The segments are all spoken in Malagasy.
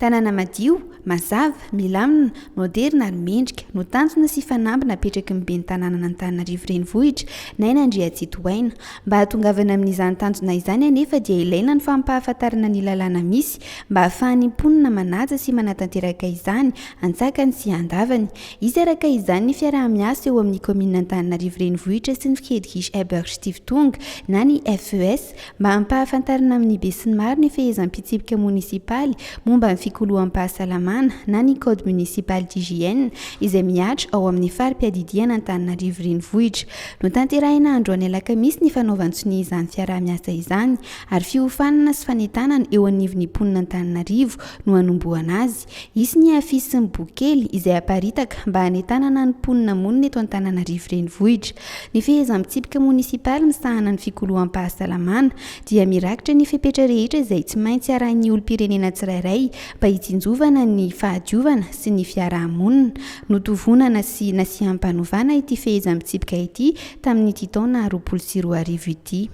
Tanàna madio, mazava, milamina, maoderina ary mendrika no tanjona sy fanamby napetraky ny ben'ny tanànan'Antananarivo Renivohitra, Naina Andriatsitohaina. Mba hahatongavana amin'izany tanjona izany anefa dia ilaina ny fampahafantarana ny lalàna misy mba hahafahan'ny mponina manaja sy manatanteraka izany antsakany sy andavany. Hisy araka izany ny fiaraha-miasa eo amin'ny kaominina Antananarivo Renivohitra sy ny Fkdgis Eberg Stiftung na ny FES mba hampahafantarana amin'ny besinimaro ny fehezam-pitsipika monisipaly momba ny fikoloham-pahasalamana na ny Code municipal d'hygiène izay mihatra ao amin'ny fari-piadidiana Antananarivo Renivohitra. Notanterahina androany alakamisy ny fanaovan-tsonia izany fiaraha-miasa izany ary fiofanana sy fanentanana eo anivon'ny mponina Antananarivo no hanombohana azy. Hisy ny afisy sy ny boky kely izay haparitaka mba hanentanana ny mponina monina eto Antananarivo Renivohitra. Ny fehezan-pitsipika monisipaly misahana ny fikoloham-pahasalamana dia mirakitra ny fepetra rehetra izay tsy maintsy arahin'ny olom-pirenena tsirairay mba hitsinjovana ny fahadiovana sy ny fiaraha-monina. Notovonana sy nasiam-panovana ity fehezam-pitsipika ity tamin'ity taona roapolo sy roa arivo ity.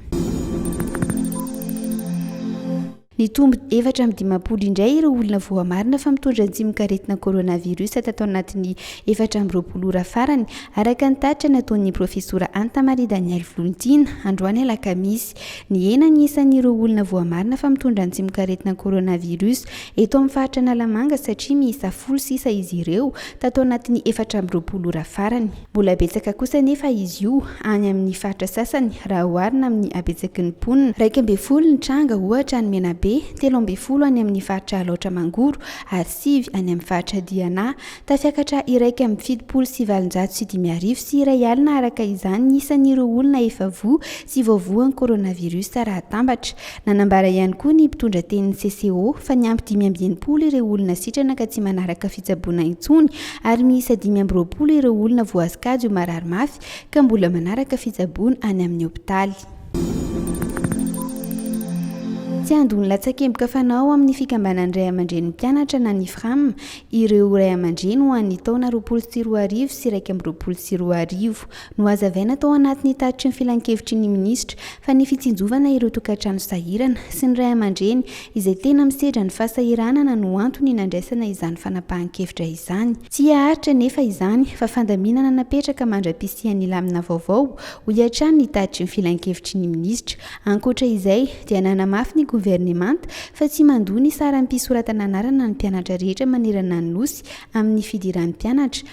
Nitombo efatra amby dimampolo indray ireo olona voamarina fa mitondra ny tsimokaretina coronavirus tato anatin'ny efatra amby roapolo ora farany, araka ny tatitra nataon'ny Profesora Anta Maria Danielle Volontiana, androany alakamisy. Nihena ny isan'ireo olona voamarina fa mitondra ny tsimokaretina coronavirus eto amin'ny faritra Analamanga satria miisa folo sisa izy ireo tato anatin'ny efatra amby roapolo ora farany. Mbola betsaka kosa anefa izy io any amin'ny faritra sasany raha oharina amin'ny habetsaky ny mponina, iraika ambin'ny folo ny tranga ohatra any Menabe, telo ambin'ny folo any amin'ny faritra Alaotra Mangoro ary sivy any amin'ny faritra Diana. Tafiakatra iraika amby fitopolo sy valonjato sy dimy arivo sy iray alina araka izany ny isan'ireo olona efa voa sy voavoan'ny coronavirus raha atambatra. Nanambara ihany koa ny mpitondra tenin'ny CCO fa niampy dimy amby enimpolo ireo olona sitrana ka tsy manaraka fitsaboana intsony ary miisa dimy amby roapolo ireo olona voascade ho marary mafy ka mbola manaraka fitsaboana any amin'ny hopitaly. Tsy handony latsakemboka fanao ao amin'ny fikambanan'ny ray aman-drenin'ny mpianatra na ny Fram ireo ray aman-dreny ho an'ny taona roapolo sy roa arivo sy iraika amby roapolo sy roa arivo. Nohazavaina tao anatin'ny tatitry ny Filankevitry ny Minisitra fa ny fitsinjovana ireo tokantrano sahirana sy ny ray aman-dreny izay tena misedra ny fahasahiranana no antony nandraisana izany fanapahan-kevitra izany. Tsy haharitra anefa izany fa fandaminana napetraka mandra-pisian'ny lamina vaovao, hoy hatrany ny tatitry ny Filankevitry ny Minisitra. Ankoatra izay dia nanamafy ny Governemanta fa tsy mandoa ny saram-pisoratana anarana ny mpianatra rehetra manerana ny Nosy amin'ny fidiram-pianatra,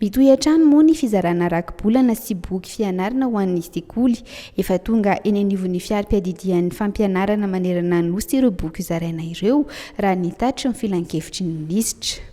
Mitohy hatrany moa ny fizarana rakibolana sy boky fianarana ho an'ny sekoly. Efa tonga eny anivon'ny fiari-piadidian'ny fampianarana manerana ny Nosy ireo boky hozaraina ireo, raha ny tatitry ny filankevitry ny minisitra.